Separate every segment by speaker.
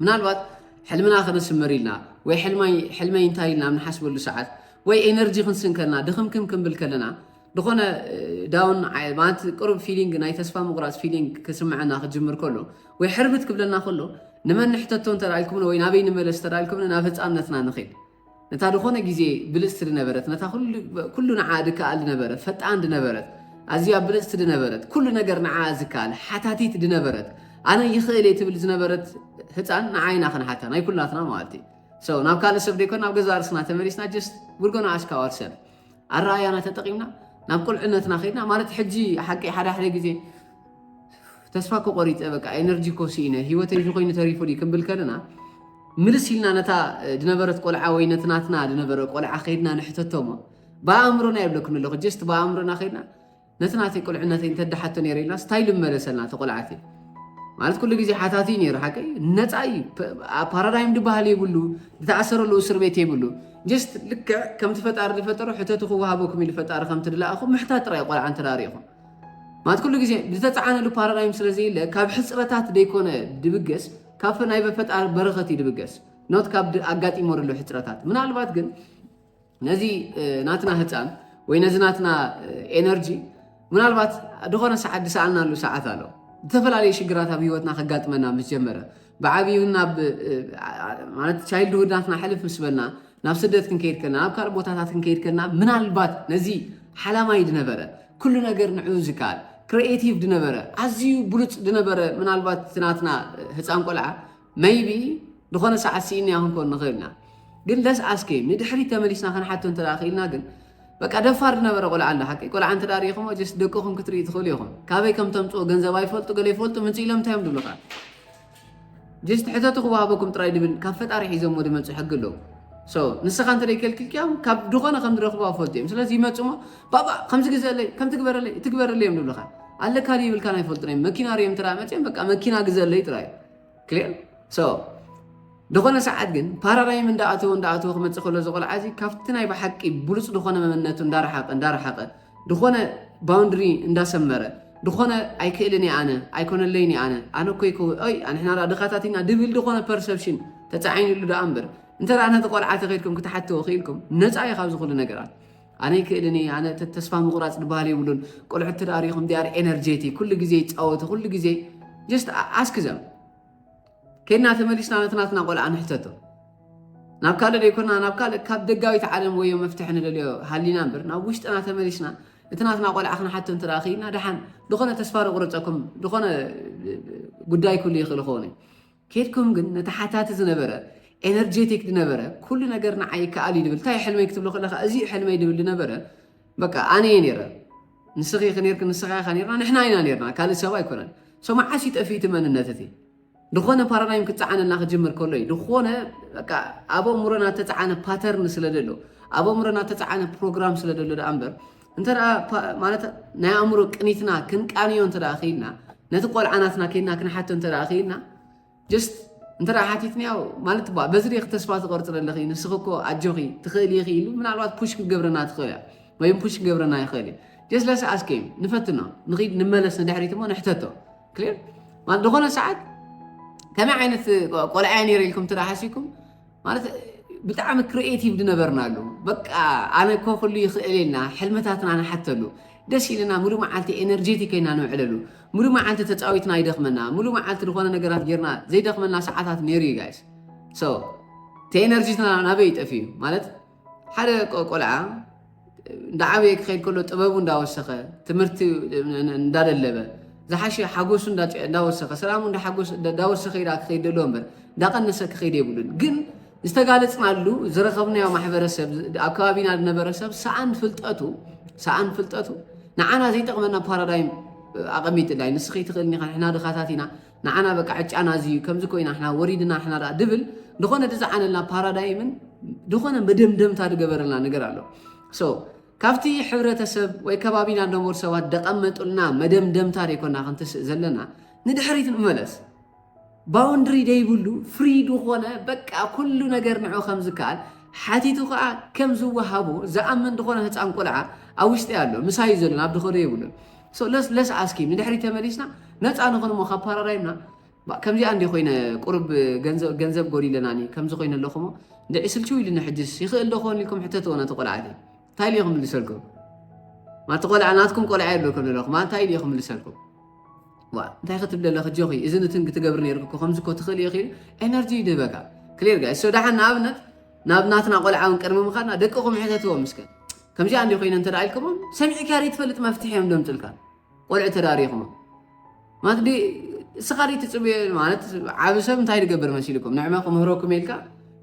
Speaker 1: ምናልባት ሕልምና ክንስምር ኢልና ወይ ሕልመይ እንታይ ኢልና ኣብ ንሓስበሉ ሰዓት ወይ ኤነርጂ ክንስን ከለና ድኽምክም ክንብል ከለና ዝኾነ ዳውን ማለት ቅሩብ ፊሊንግ ናይ ተስፋ ምቑራፅ ፊሊንግ ክስምዐና ክጅምር ከሎ ወይ ሕርብት ክብለና ከሎ ንመን ንሕተቶ እንተደኣልኩምኒ ወይ ናበይ ንመለስ ተደኣልኩምኒ ናብ ህፃነትና ንኽእል ነታ ድኾነ ግዜ ብልጽቲ ድነበረት፣ ነታ ኩሉ ንዓኣ ድከኣል ድነበረ፣ ፈጣን ድነበረት፣ ኣዝያ ብልጽቲ ድነበረት፣ ኩሉ ነገር ንዓኣ ዝከኣል፣ ሓታቲት ድነበረት፣ ኣነ ይኽእል እየ ትብል ዝነበረት ህጻን ንዓይ ኢና ክንሓታ፣ ናይ ኩላትና ማለት'ዩ። So ናብ ካልእ ሰብ ደይኮን ናብ ገዛእ ርእስና ተመሊስና just we're gonna ask ourselves። ኣረኣያና ተጠቂምና ናብ ቁልዕነትና ከድና ማለት ሕጂ ሓቂ ሓደ ሓደ ግዜ ተስፋ ኮ ቆሪፀ በቃ ኤነርጂ ኮ ስኢነ ሂወተይ እዚ ኮይኑ ተሪፉ ድዩ ክንብል ከለና ምልስ ኢልና ነታ ዝነበረት ቆልዓ ወይ ነቲ ናትና ዝነበረ ቆልዓ ከይድና ንሕተቶሞ ብኣእምሮና የብለክን ኣለኹ ጀስት ብኣእምሮና ከይድና ነቲ ናተይ ቁልዕነተይ እንተ ደሓቶ ነይረ ኢልና ስታይል ምመለሰልና እቲ ቁልዓት እዩ ማለት ኩሉ ግዜ ሓታቲ እዩ ነይሩ ሓቀይ ነፃ እዩ ፓራዳይም ድበሃል የብሉ ዝተኣሰረሉ እስር ቤት የብሉ ጀስት ልክዕ ከምቲ ፈጣሪ ዝፈጠሮ ሕተቱ ክወሃበኩም ኢሉ ፈጣሪ ከምቲ ድለኣኹም ምሕታት ጥራይ ቆልዓ እንተዳሪኹም ማለት ኩሉ ግዜ ዝተፃዓነሉ ፓራዳይም ስለ ዘየለ ካብ ሕፅረታት ዘይኮነ ድብገስ ካብ ናይ በፈጣር በረኸት እዩ ድብገስ ኖት ካብ ኣጋጢሞ ዘሎ ሕፅረታት ምናልባት ግን ነዚ ናትና ህፃን ወይ ነዚ ናትና ኤነርጂ ምናልባት ዝኾነ ሰዓት ድሰኣናሉ ሰዓት ኣሎ ዝተፈላለዩ ሽግራት ኣብ ህይወትና ከጋጥመና ምስ ጀመረ ብዓብዩ ናብ ማለት ቻይልድ ውዳትና ሕልፍ ምስ በልና ናብ ስደት ክንከይድ ከልና ናብ ካልእ ቦታታት ክንከይድ ከልና ምናልባት ነዚ ሓላማይ ድነበረ ኩሉ ነገር ንዕኡ ዝከኣል ክሪኤቲቭ ድነበረ ኣዝዩ ብሉፅ ድነበረ ምናልባት ትናትና ህፃን ቆልዓ መይቢ ዝኾነ ሰዓት ስኢንያ ክንኮን ንኽእል ኢና ግን ለስ ኣስኬ ንድሕሪት ተመሊስና ክንሓቶ እንተ ክኢልና ግን በቃ ደፋር ዝነበረ ቆልዓ ኣሎ ሓቂ ቆልዓ እንተ ሪኢኹሞ ጀስ ደቅኹም ክትርኢ ትኽእሉ ኢኹም ካበይ ከም ተምፅኦ ገንዘብ ኣይፈልጡ ገለ ይፈልጡ ምንፅ ኢሎም እንታይ እዮም ዝብሉኻ ጀስ ትሕተቱ ክወሃበኩም ጥራይ ድብል ካብ ፈጣሪ ሒዞሞ ድመፁ ሕጊ ኣለዉ ሶ ንስኻ እንተ ከልክልክያም ካብ ድኾነ ከም ዝረኽቡ ኣፈልጡ እዮም ስለዚ ይመፅሞ ባባ ከም ዝግዘለይ ከም ትግበረለይ ትግበረለይ እዮም ዝብሉኻ ኣለካ ይብልካ ኣይፈልጡን እዮም መኪና ሪኦም እንተ መፅኦም በቃ መኪና ግዘለይ ጥራይ እዩ ዝኾነ ሰዓት ግን ፓራዳይም እንዳኣተወ እንዳኣተወ ክመፅእ ከሎ ዝቆልዓ እዚ ካብቲ ናይ ብሓቂ ብሉፅ ዝኾነ መመነቱ እንዳረሓቀ እንዳረሓቀ ዝኾነ ባውንድሪ እንዳሰመረ ዝኾነ ኣይክእልን ኣነ ኣይኮነለይን ኣነ ኣነ ኮይ ይ ንሕና ዳ ድኻታት ኢና ድብል ዝኾነ ፐርሰፕሽን ተፃዒንሉ ዳኣ እምበር እንተ ነቲ ቆልዓ ተኸድኩም ክትሓትዎ ክኢልኩም ነፃ እዩ ካብ ዝኽሉ ነገራት ኣነ ኣይክእልን እየ ኣነ ተስፋ ምቁራፅ ድበሃል የብሉን ቆልዑት ትደኣ ሪኢኹም ዲኣር ኤነርጀቲ ኩሉ ግዜ ይፃወቱ ኩሉ ግዜ ጀስት ኣስክ ዘም ከድና ተመሊስና ነቲ ናትና ቆልዓ ንሕተቶ ናብ ካልእ ዘይኮና ናብ ካልእ ካብ ደጋዊት ዓለም ወዮ መፍትሒ ንደልዮ ሃሊና እምበር ናብ ውሽጥና ተመሊስና እቲ ናትና ቆልዓ ክንሓቶ እንተ ክኢልና ደሓን ዝኾነ ተስፋ ንቑረፀኩም ዝኾነ ጉዳይ ክህሉ ይኽእል ክኸውን እዩ ኬድኩም ግን ነቲ ሓታቲ ዝነበረ ኤነርጀቲክ ድነበረ ኩሉ ነገር ንዓይ ይከኣል እዩ ድብል ታይ ሕልመይ ክትብሎ ከለካ እዚዩ ሕልመይ ድብል ድነበረ በቃ ኣነ እየ ነረ ንስኺ ኢኺ ነርኪ ንስኻ ኢኻ ነርና ንሕና ኢና ነርና ካልእ ሰብ ኣይኮነን ሶ መዓስ እዩ ጠፊኡ እቲ መንነት እቲ ዝኾነ ፓራዳይም ክፀዓነልና ክጅምር ከሎ እዩ ዝኾነ በቃ ኣብ ኣእምሮና ተፀዓነ ፓተርን ስለ ዘሎ ኣብ ኣእምሮና ተፀዓነ ፕሮግራም ስለ ዘሎ ደኣ እምበር እንተ ማለት ናይ ኣእምሮ ቅኒትና ክንቃንዮ እንተ ክኢልና ነቲ ቆልዓናትና ከይድና ክንሓቶ እንተ ክኢልና ጀስት እንተ ሓቲትንዮ ማለት ባ በዚ ሪክ ተስፋ ትቆርፅ ዘለኺ ንስኺ እኮ ኣጆኺ ትኽእል ኢኺ ኢሉ ምናልባት ፑሽ ክገብረና ትኽእል እያ ወይ ፑሽ ክገብረና ይኽእል እዩ ጀስ ለስ ኣስከዩ ንፈትኖ ንኺድ ንመለስ ንድሕሪት እሞ ንሕተቶ ክሊር ዝኾነ ሰዓት ከመይ ዓይነት ቆልዓ እያ ነይረ ኢልኩም ትሓሲብኩም ማለት ብጣዕሚ ክሪኤቲቭ ዝነበርናሉ በቃ ኣነ እኮ ኩሉ ይኽእል ኢልና ሕልምታትና ንሓተሉ ደስ ኢልና ሙሉእ መዓልቲ ኤነርጄቲክ ኮይና ንውዕለሉ ሙሉእ መዓልቲ ተፃዊትና ይደኽመና ሙሉእ መዓልቲ ዝኾነ ነገራት ጌርና ዘይደኽመና ሰዓታት ነይሩ እዩ ጋይስ ሶ እቲ ኤነርጂትና ናበይ ይጠፍእ እዩ ማለት ሓደ ቆልዓ እንዳዓበየ ክኸይድ ከሎ ጥበቡ እንዳወሰኸ ትምህርቲ እንዳደለበ ዝሓሸ ሓጎሱ እንዳወሰኸ ሰላሙ እንዳወሰኸ ኢዳ ክኸይድ ደሎ እምበር እንዳቀነሰ ክኸይድ የብሉን። ግን ዝተጋለፅናሉ ዝረኸብናዮ ማሕበረሰብ ኣብ ከባቢና ዝነበረ ሰብ ሰኣን ፍልጠቱ ሰኣን ፍልጠቱ ንዓና ዘይጠቕመና ፓራዳይም ኣቐሚጥላ እዩ። ንስኺ ትኽእልኒ ንሕና ድኻታት ኢና ንዓና በቃ ዕጫና እዚ እዩ ከምዚ ኮይና ንሕና ወሪድና ንሕና ደኣ ድብል ዝኾነ ድዝዓነልና ፓራዳይምን ዝኾነ መደምደምታ ድገበረልና ነገር ኣሎ ሶ ካብቲ ሕብረተሰብ ወይ ከባቢና ነበር ሰባት ደቐመጡልና መደምደምታ ደይኮና ክንትስእ ዘለና ንድሕሪት ንመለስ ባውንድሪ ደይብሉ ፍሪ ዝኾነ በቃ ኩሉ ነገር ንዑ ከም ዝከኣል ሓቲቱ ከዓ ከም ዝወሃቦ ዝኣምን ዝኾነ ህፃን ቆልዓ ኣብ ውሽጢ ኣሎ ምሳዩ ዘሎ ናብ ድኸዶ የብሉን So let's let's ask him ንድሕሪት ተመሊስና ነፃ ንኹን እሞ ካብ ፓራዳይምና ባ- ከምዚኣ እንዲ ኮይነ ቁርብ ገንዘብ ገንዘብ ጎዲለናኒ ከምዚ ኮይነ ኣለኹ እሞ እንድዒ ስልችው ኢሉኒ ሕጅስ ይኽእል ዶ ክኾን ኢልኩም ሕተትዎ ነቲ ቆልዓቲ እንታይ ኢሉ ክምልሰልኩም ማቲ ቆልዓ ናትኩም ቆልዓ የብለኩም ዘለኹ ማ እንታይ ኢሉ ክምልሰልኩም ዋ እንታይ ክትብል ኣለኺ ጆኺ እዚ ንትን ክትገብሪ ነይርኩ እኮ ከምዚ እኮ ትኽእል ኢኺ ኤነርጂ ይድህበካ ክሊር ጋይ ሶ ደሓን ንኣብነት ናብ ናትና ቆልዓ ውን ቅድሚ ምኻድና ደቅኹም ሕተትዎም እስከ ከምዚኣ እንዲ ኮይነ እንተ ኢልክሞም ሰሚዕካ ዘይትፈልጥ መፍትሒ እዮም ደምፅልካ ቆልዑ ተዳሪኹሞም ማለት እስኻ ትፅብዮ ማለት ዓብ ሰብ እንታይ ዝገብር መሲልኩም ንዕመ ክምህረኩም ኢልካ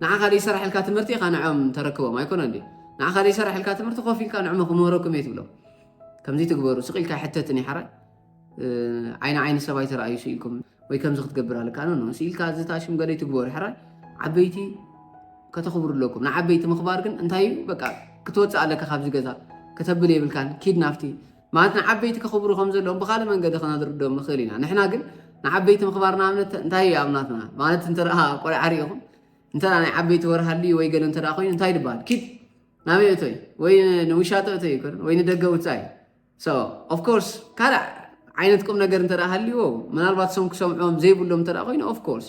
Speaker 1: ንዓኻ ዘይሰራሕልካ ትምህርቲ ኢኻ ንዖም ተረክቦም ኣይኮነ እ ንዓኻ ዘይሰራሕልካ ትምህርቲ ኮፍ ኢልካ ንዕመ ክምህረኩም እየ ትብሎም ከምዚ ትግበሩ ስቕ ኢልካ ሕተት ኒሓራ ዓይኒ ዓይኒ ሰብ ኣይተረኣዩ ስኢልኩም ወይ ከምዚ ክትገብር ኣለካ ኖ ስኢልካ እዚ ታሽም ገለ ይትግበሩ ሕራይ ዓበይቲ ከተኽብሩ ኣለኩም ንዓበይቲ ምኽባር ግን እንታይ እዩ በቃ ክትወፅእ ኣለካ ካብዚ ገዛ ከተብል የብልካን ኪድ ናፍቲ ማለት ንዓበይቲ ከኽብሩ ከም ዘለዎም ብካልእ መንገዲ ክነድርዶም ንኽእል ኢና ንሕና ግን ንዓበይቲ ምኽባር ንኣብነት እንታይ እዩ ኣብናትና ማለት እንተ ቆልዓ ሪኢኹም እንተ ናይ ዓበይቲ ወርሃሉ ወይ ገለ እንተ ኮይኑ እንታይ ይድበሃል ኪድ ናበይ እቶይ ወይ ንውሻጠ እቶይ ይኮን ወይ ንደገ ውፃእ እዩ So, of course, ካልእ ዓይነት ቁም ነገር እንተ ሃልዎ ምናልባት ሶም ክሰምዖም ዘይብሎም እንተ ኮይኑ ኦፍ ኮርስ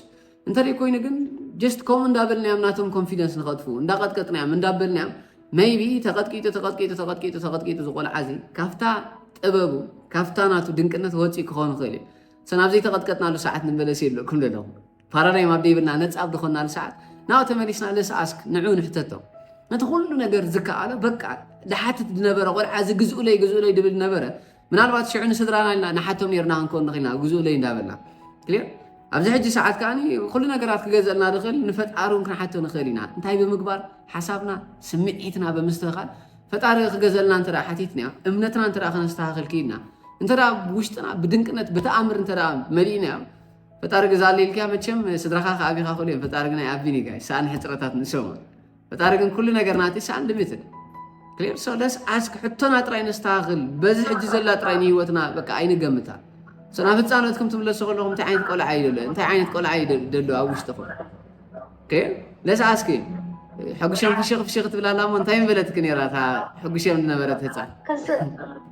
Speaker 1: እንተ ኮይኑ ግን ጀስት ከምኡ እንዳበልናዮም ናቶም ኮንፊደንስ ንኸጥፉ እንዳቐጥቀጥናዮም እንዳበልናዮም መይቢ ተቐጥቂጡ ተቐጥቂጡ ተቐጥቂጡ ተቐጥቂጡ ዝቆልዓ እዚ ካብታ ጥበቡ ካብታ ናቱ ድንቅነት ወፂእ ክኸውን ይኽእል እዩ ሰናብ ዘይተቐጥቀጥናሉ ሰዓት ንመለስ የለኩም ዘለኹም ፓራዳይም ኣብ ደይብልና ነፃ ኣብ ድኾናሉ ሰዓት ናብ ተመሊስና ለስ ኣስክ ንዑ ንሕተቶ ነቲ ኩሉ ነገር ዝከኣሎ በቃ ድሓትት ዝነበረ ቆልዓ እዚ ግዝኡለይ ግዝኡለይ ድብል ነበረ ምናልባት ሽዑ ንስድራና ኢልና ንሓቶም ነርና ክንከውን ንኽእልና ግዝኡለይ እንዳበልና ክልዮ ኣብዚ ሕጂ ሰዓት ከዓ ኩሉ ነገራት ክገዘልና ንኽእል ንፈጣሪ እውን ክንሓቶ ንኽእል ኢና እንታይ ብምግባር ሓሳብና ስምዒትና ብምስትኽኻል ፈጣሪ ክገዘልና እንተ ሓቲትና እምነትና እንተ ከነስተኻኽል ክኢልና እንተ ውሽጥና ብድንቅነት ብተኣምር እንተ መሊእና ፈጣሪ ግዛለይ ኢልክያ መቸም ስድራካ ክኣ ኣቢካ ክእሉ እዮም ፈጣሪ ግናይ ኣቢን እዩ ጋይ ሳኣን ሕጽረታት ንሶም ፈጣሪ ግን ኩሉ ነገር ናቲ ሳኣን ድሚትን ክሊር ሶ ለስ ኣስክ ሕቶና ጥራይ ነስተካክል በዚ ሕጂ ዘላ ጥራይ ንሂወትና በቃ ኣይንገምታ ሶ ናብ ህፃነትኩም ትምለሱ ከለኹም እንታይ ዓይነት ቆልዓ እዩ ደሎ እንታይ ዓይነት ቆልዓ እዩ ደሎ ኣብ ውሽጥኹም ለስ ኣስክ ሕጉሸም ፍሽኽ ፍሽኽ ትብላላ እሞ እንታይ ምበለትክ ነራ እታ ሕጉሸም ዝነበረት ህፃን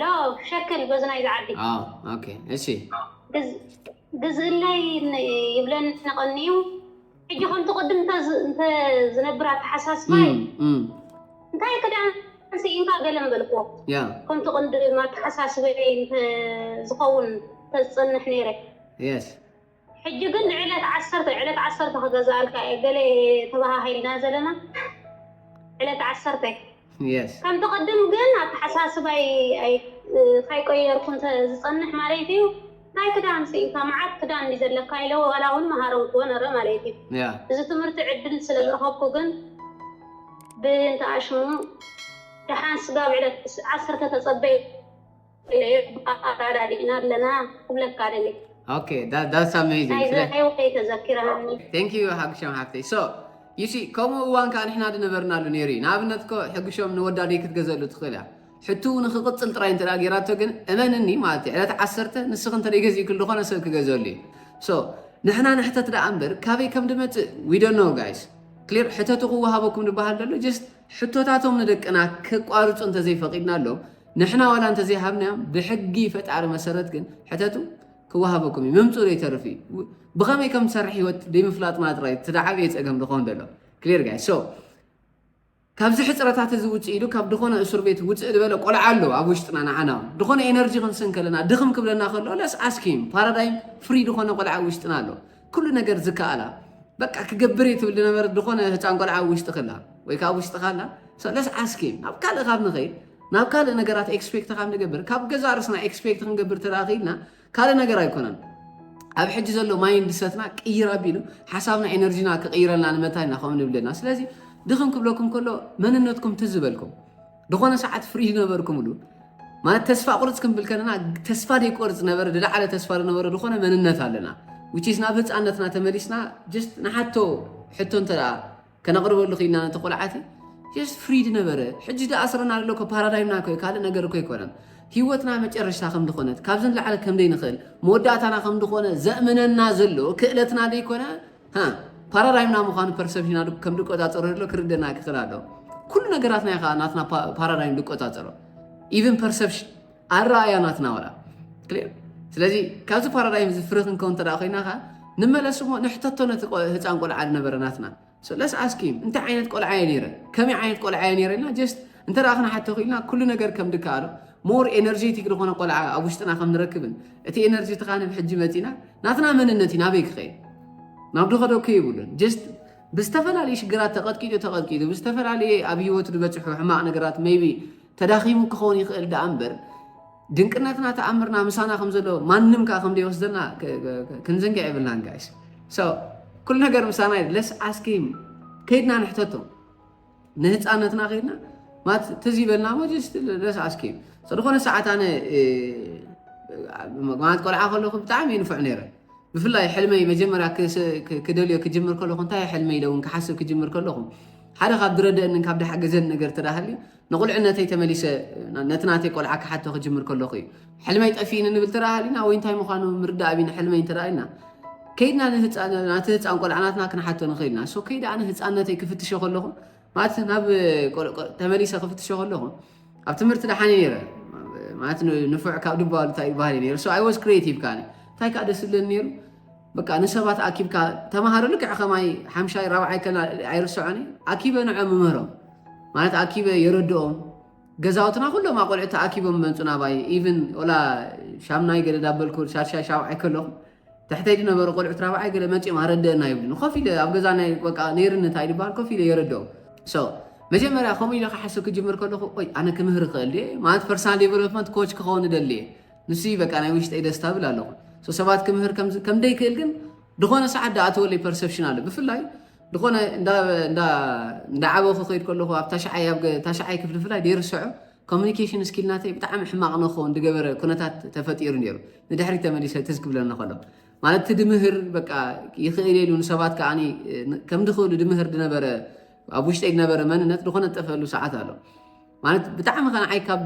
Speaker 2: ላው ሸክል በዝናይ ዝዓቢ እሺ ግዝእለይ ይብለኒ ቀንዩ ሕጂ ከምቲ ቅድም እንተዝነብር ኣተሓሳስባ እንታይ ክዳን ስኢንካ ገለ ምበልክዎ ከምቲ
Speaker 1: ቅንዲ
Speaker 2: ኣተሓሳስበ ዝኸውን ተዝፀንሕ ነይረ
Speaker 1: ሕጂ ግን
Speaker 2: ንዕለት ዓሰርተ ዕለት ዓሰርተ ክገዝኣልካ እየ ገለ ተበሃሂልና ዘለና ዕለት ዓሰርተ የስ ከምቲ
Speaker 1: ቅድም
Speaker 2: ግን ኣተሓሳስባይ ኣይ- ካይቀየርኩ እንተ ዝጸንሕ ማለት እዩ እንታይ ክዳን ስኢንካ መዓት ክዳን እንዲ ዘለካ ኢለ ዋላ እውን መሃረምክዎ ነረ ማለት እዩ ያ እዚ ትምህርቲ
Speaker 1: ዕድል
Speaker 2: ስለ ዝረኸብኩ ግን ብእንተ ኣሽሙ ደሓን ስጋብ ዕለት ዓሰርተ ተጸበዩ እየ ኣረዳዲእና ኣለና ክብለካ ደልየ። ኦኬ ዳ
Speaker 1: ዳትስ ኣሜዚንግ ናይ ስለ ዝረኣዮ ከይተዘኪረኒ ቴንክ ዩ ሓግሾም ሓፍተይ ሶ ዩሲ ከምኡ እዋን ከዓ ንሕና ድነበርናሉ ነይሩ እዩ ንኣብነት እኮ ሕግሾም ንወዳ ደይ ክትገዘሉ ትኽእል እያ ሕቱ ንክቕፅል ጥራይ እንተ ገይራቶ ግን እመንኒ ማለት እዩ ዕለት ዓሰርተ ንስኽ እንተ ገዚእክል ዝኾነ ሰብ ክገዘሉ እዩ ሶ ንሕና ንሕተት ደኣ እምበር ካበይ ከም ድመፅእ ዊዶኖ ጋይስ ክሊር ሕተቱ ክወሃበኩም ድበሃል ደሎ ጀስት ሕቶታቶም ንደቅና ክቋርፁ እንተዘይፈቒድናሎም ንሕና ዋላ እንተዘይሃብናዮም ብሕጊ ፈጣሪ መሰረት ግን ሕተቱ ክወሃበኩም እዩ ምምፅኡ ዘይተርፍ እዩ ብኸመይ ከም ትሰርሕ ህይወት ዘይምፍላጥና ጥራይ ትደዓብየ ፀገም ዝኾን ዘሎ ክሊር ጋይ ሶ ካብዚ ሕፅረታት እዚ ውፅእ ኢሉ ካብ ድኾነ እሱር ቤት ውፅእ ዝበለ ቆልዓ ኣሎ ኣብ ውሽጥና ንዓና ድኾነ ኤነርጂ ክንስን ከለና ድኽም ክብለና ከሎ ለስ ኣስኪም ፓራዳይም ፍሪ ድኾነ ቆልዓ ኣብ ውሽጥና ኣሎ ኩሉ ነገር ዝከኣላ በቃ ክገብር እዩ ትብል ዝነበረት ዝኾነ ህፃን ቆልዓ ኣብ ውሽጢ ክላ ወይ ከዓ ኣብ ውሽጢ ካላ ሰለስ ዓስኪ ናብ ካልእ ካብ ንኸይድ ናብ ካልእ ነገራት ኤክስፔክት ካብ ንገብር ካብ ገዛ ርስና ኤክስፔክት ክንገብር ተረኺብና ካልእ ነገር ኣይኮነን ኣብ ሕጂ ዘሎ ማይንድ ሰትና ቅይር ኣቢሉ ሓሳብና ኤነርጂና ክቕይረልና ንመታይ ኢና ከምኡ ንብለና ስለዚ ድኽም ክብለኩም ከሎ መንነትኩም ትዝበልኩም ድኾነ ሰዓት ፍሪ ዝነበርኩምሉ ማለት ተስፋ ቁርፅ ክንብል ከለና ተስፋ ደይቆርፅ ነበረ ዝለዓለ ተስፋ ዝነበረ ዝኾነ መንነት ኣለና ውጪስ ናብ ህፃነትና ተመሊስና ጀስት ንሓቶ ሕቶ እንተ ከነቕርበሉ ክኢልና ነቲ ቆልዓቲ ጀስት ፍሪድ ነበረ ሕጂ ዳ ኣስረና ኣሎ ኮ ፓራዳይምና ኮ ካልእ ነገር ኮ ኣይኮነን ህይወትና መጨረሻ ከም ዝኾነት ካብዚ ንላዕለ ከም ዘይንኽእል መወዳእታና ከም ዝኾነ ዘእምነና ዘሎ ክእለትና ዘይኮነ ፓራዳይምና ምዃኑ ፐርሰፕሽና ከም ድቆፃፀሮ ዘሎ ክርደና ክኽእል ኣሎ ኩሉ ነገራትና እዩ ከዓ ናትና ፓራዳይም ድቆፃፀሮ ኢቨን ፐርሰፕሽን ኣረኣያ ናትና ወላ ስለዚ ካብዚ ፓራዳይም እዚ ፍረ ክንከው እንተ ኮይና ከዓ ንመለስ እሞ ንሕተቶ ነቲ ህፃን ቆልዓ ዝነበረ ናትና ለስ ኣስኪም እንታይ ዓይነት ቆልዓ እየ ነይረ ከመይ ዓይነት ቆልዓ እየ ነይረ ኢልና ጀስት እንተ ደኣ ክንሓቶ ክኢልና ኩሉ ነገር ከም ድከኣሎ ሞር ኤነርጀቲክ ዝኾነ ቆልዓ ኣብ ውሽጥና ከም ንረክብን እቲ ኤነርጂ ትኻንብ ሕጂ መጺና ናትና መንነት እዩ ናበይ ክኸይድ ናብ ድኸደኩ ይብሉን ጀስት ብዝተፈላለዩ ሽግራት ተቐጥቂጡ ተቐጥቂጡ ብዝተፈላለየ ኣብ ህይወቱ ዝበፅሑ ሕማቕ ነገራት መይቢ ተዳኺሙ ክኸውን ይኽእል ደኣ እምበር ድንቅነትና ተኣምርና ምሳና ከም ዘሎ ማንም ከዓ ከም ዘይወስደና ክንዝንግዕ የብልናን ጋይስ ኩሉ ነገር ምሳና ለስ ኣስኪም ከይድና ንሕተቶም ንህፃነትና ከይድና ማለት ትዝ ይበልና ሞ ደስ ኣስኪ ዝኾነ ሰዓት ኣነ ማለት ቆልዓ ከለኹ ብጣዕሚ ይንፍዕ ነይረ ብፍላይ ሕልመይ መጀመርያ ክደልዮ ክጅምር ከለኹ እንታይ ሕልመይ ኢለ እውን ክሓስብ ክጅምር ከለኹ ሓደ ካብ ዝረደአንን ካብ ዳሓገዘን ነገር ተዳሃልዩ ንቑልዕነተይ ተመሊሰ ነቲ ናተይ ቆልዓ ክሓቶ ክጅምር ከለኹ እዩ ሕልመይ ጠፊእኒ ንብል ተራ ሃሊና ወይ እንታይ ምዃኑ ምርዳእ ቢኒ ሕልመይ እንተ ኢልና ከይድና ናቲ ህፃን ቆልዓ ናትና ክንሓቶ ንኽእል ኢና ሶ ከይድ ኣነ ህፃነተይ ክፍትሸ ከለኹ ማለት ናብ ተመሊሰ ክፍትሸ ከለኹ ኣብ ትምህርቲ ደሓኒ ነይረ ማለት ንፉዕ ካብ ድባሉ እንታይ ባህሪ ነይሩ ሶ ኣይ ዋዝ ክሬቲቭ ካነ እንታይ ከዓ ደስ ዝብለኒ ነይሩ በቃ ንሰባት ኣኪብካ ተምሃሮ ልክዕ ከማይ ሓምሻይ ራብዓይ ከና ኣይርሰዖኒ ኣኪበ ንዖ ምምህሮም ማለት ኣኪበ የረድኦም ገዛውትና ኩሎም ኣቆልዑት ተኣኪቦም መጹ ናባይ ኢቭን ወላ ሻምናይ ገለ ዳበልኩ ሻድሻይ ሻብዓይ ከለኹ ትሕተይ ዝነበሩ ቆልዑት ራብዓይ ገለ መጺኦም ኣረደአና ይብሉኒ ኮፍ ኢለ ኣብ ገዛ ናይ በቃ ነይርኒ እንታይ ዝበሃል ኮፍ ኢለ የረድኦም ሶ መጀመርያ ከምኡ ኢለ ክሓስብ ክጅምር ከለኹ ቆይ ኣነ ክምህር ይኽእል ድየ ማለት ፐርሰናል ዴቨሎፕመንት ኮች ክኸውን እደሊ እየ ንሱ በቃ ናይ ውሽጠይ ደስታ ብል ኣለኹ ሰባት ክምህር ከምደይክእል ግን ዝኾነ ሰዓት ዳኣተወለይ ፐርሰፕሽን ኣሎ ብፍላይ ድኾነ እንዳዓበኹ ከይድ ከለኹ ኣብ ታሽዓይ ኣብ ታሽዓይ ክፍሊ ፍላይ ደይርሰዖ ኮሚኒኬሽን ስኪል ናተይ ብጣዕሚ ሕማቕ ንኸውን ድገበረ ኩነታት ተፈጢሩ ነይሩ ንድሕሪ ተመሊሰ ትዝ ክብለኒ ከሎ ማለት እቲ ድምህር በቃ ይኽእል ኢሉ ንሰባት ከዓ ከም ድኽእሉ ድምህር ድነበረ ኣብ ውሽጠይ ድነበረ መንነት ዝኾነ ጠፈሉ ሰዓት ኣሎ ማለት ብጣዕሚ ከንዓይ ካብ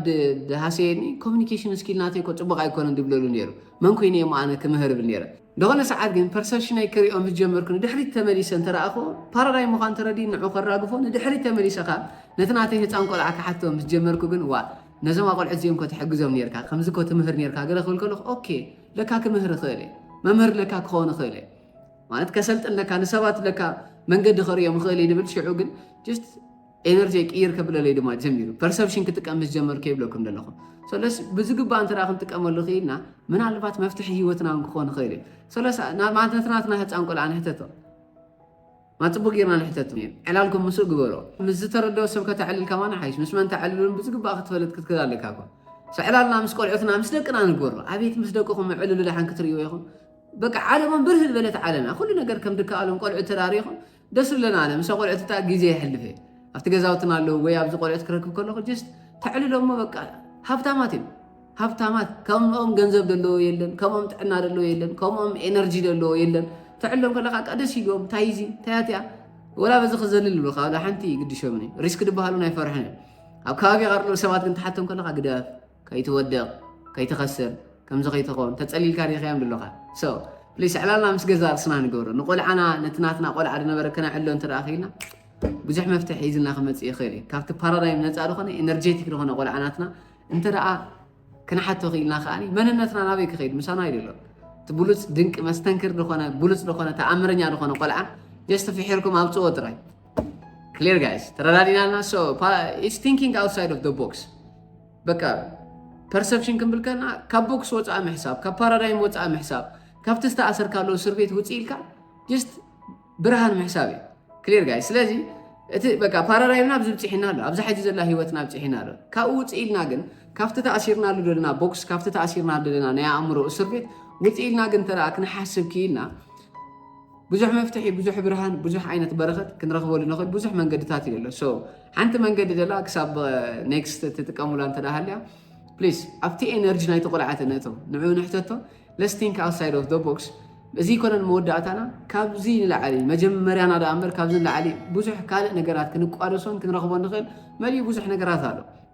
Speaker 1: ድሃሰየኒ ኮሚኒኬሽን ስኪል ናተይ እኮ ፅቡቕ ኣይኮነን ድብለሉ ነይሩ መን ኮይነ እሞ ኣነ ክምህር ብል ነይረ ዝኾነ ሰዓት ግን ፐርሰፕሽነይ ክሪኦ ምስ ጀመርኩ ንድሕሪት ተመሊሰ እንተረኣኹዎ ፓራዳይም ምዃኑ ተረዲኡ ንዑ ከራግፎ ንድሕሪት ተመሊሰ ከኣ ነቲ ናተይ ህጻን ቆልዓ ክሓቶ ምስ ጀመርኩ ግን ዋእ ነዞም ኣቆልዑት እዚኦም እኮ ትሕግዞም ኔርካ ከምዚ እኮ ትምህር ኔርካ ገለ ክብል ከለኹ ኦኬ ለካ ክምህር እኽእል እየ መምህር ለካ ክኸውን እኽእል እየ ማለት ከሰልጥን ለካ ንሰባት ለካ መንገዲ ከርእዮም እኽእል እየ ድብል ሽዑ ግን ጀስት ኤነርጂየይ ቅይር ከብለለይ ድማ ጀሚሩ። ፐርሰፕሽን ክጥቀም ምስ ጀመርኩ እየ ይብለኩም ዘለኹ። ሰለስ ብዝግባእ እንተ ክንጥቀመሉ ክኢልና ምናልባት መፍትሒ ህይወትና እውን ክኾን ይኽእል እዩ። ሰለስ ናትናትና ህፃን ቆልዓ ንሕተቶ ማ ፅቡቅ ጌርና ንሕተቶ ዕላልኩም ምስኡ ግበሮ ምስ ዝተረድኦ ሰብ ከተዕልል ከማና ሓይሽ ምስ መን ተዕልሉን ብዝግባእ ክትፈልጥ ክትክእል ኣለካ እኮ ዕላልና ምስ ቆልዑትና ምስ ደቅና ንግበሮ ኣቤት ምስ ደቅኹም ዕልሉ ደሓን ክትርእይዎ ኢኹም በቃ ዓለሞም ብርህ ዝበለት ዓለምያ ኩሉ ነገር ከም ድከኣሎም ቆልዑ ተዳሪኹም ደስ ብለና ኣነ ምሰ ቆልዑት እታ ግዜ የሕልፍ እየ ኣብቲ ገዛውትና ኣለዉ ወይ ኣብዚ ቆልዑት ክረክብ ከለኹ ጀስት ተዕልሎ እሞ በቃ ሃብታማት እዮም ሃብታማት ከምኦም ገንዘብ ዘለዎ የለን ከምኦም ጥዕና ዘለዎ የለን ከምኦም ኤነርጂ ዘለዎ የለን ተዕሎም ከለካ ቃ ደስ ይብሎም እንታይ እዚ እንታያትያ ወላ በዚ ክዘልል ብልካ ወላ ሓንቲ ግድሾምኒ ሪስክ ድበሃሉ ናይ ፈርሐን ኣብ ከባቢኻ ርሎ ሰባት ግን ትሓቶም ከለካ ግደፍ ከይትወድቅ ከይትኸስር ከምዚ ከይትኾን ተጸሊልካ ሪኢኻዮም ድሎኻ ሶ ፕሊስ ዕላልና ምስ ገዛ ርእስና ንገብሮ ንቆልዓና ነቲ ናትና ቆልዓ ዝነበረ ከነዕሎ እንተ ክኢልና ብዙሕ መፍትሒ ሒዝልና ክመጽእ ይኽእል እዩ ካብቲ ፓራዳይም ነፃ ዝኾነ ኤነርጀቲክ ዝኾነ ቆልዓ ናትና እንተ ክንሓቶ ክኢልና ከዓኒ መንነትና ናበይ ክኸይድ ምሳና ይደሎ እቲ ብሉፅ ድንቂ መስተንክር ዝኾነ ብሉፅ ዝኾነ ተኣምረኛ ዝኾነ ቆልዓ ጀስት ፍሒርኩም ኣብፅዎ ጥራይ ክሊር ጋይስ ተረዳዲናና ሶ ኢትስ ቲንኪንግ ኣውትሳይድ ኦፍ ቦክስ በቃ ፐርሰፕሽን ክንብል ከና ካብ ቦክስ ወፃኢ ምሕሳብ ካብ ፓራዳይም ወፃኢ ምሕሳብ ካብቲ ዝተኣሰርካሉ እስር ቤት ውፅ ኢልካ ጀስት ብርሃን ምሕሳብ እዩ ክሊር ጋይ ስለዚ እቲ በቃ ፓራዳይምና ኣብዚ ብፅሒና ኣሎ ኣብዚ ሕጂ ዘላ ሂወትና ብፅሒና ኣሎ ካብኡ ውፅ ኢልና ግን ካብቲ ተኣሲርናሉ ዘለና ቦክስ ካብቲ ተኣሲርናሉ ዘለና ናይ ኣእምሮ እስር ቤት ውፅ ኢልና ግን ተረኣ ክንሓስብ ክኢልና ብዙሕ መፍትሒ ብዙሕ ብርሃን ብዙሕ ዓይነት በረኸት ክንረኽበሉ ንኽእል ብዙሕ መንገድታት እዩ ዘሎ ሶ ሓንቲ መንገዲ ደላ ክሳብ ኔክስት ትጥቀሙላ እንተ ሃልያ ፕሊስ ኣብቲ ኤነርጂ ናይቲ ቆልዓት ነእተው ንዕኡ ንሕተቶ ለስ ቲንክ ኣውትሳይድ ኦፍ ዶ ቦክስ እዚ ኮነን መወዳእታና ካብዚ ንላዓሊ መጀመርያና ዳኣ እምበር ካብዚ ንላዓሊ ብዙሕ ካልእ ነገራት ክንቋደሶን ክንረኽቦ ንኽእል መሊኡ ብዙሕ ነገራት ኣሎ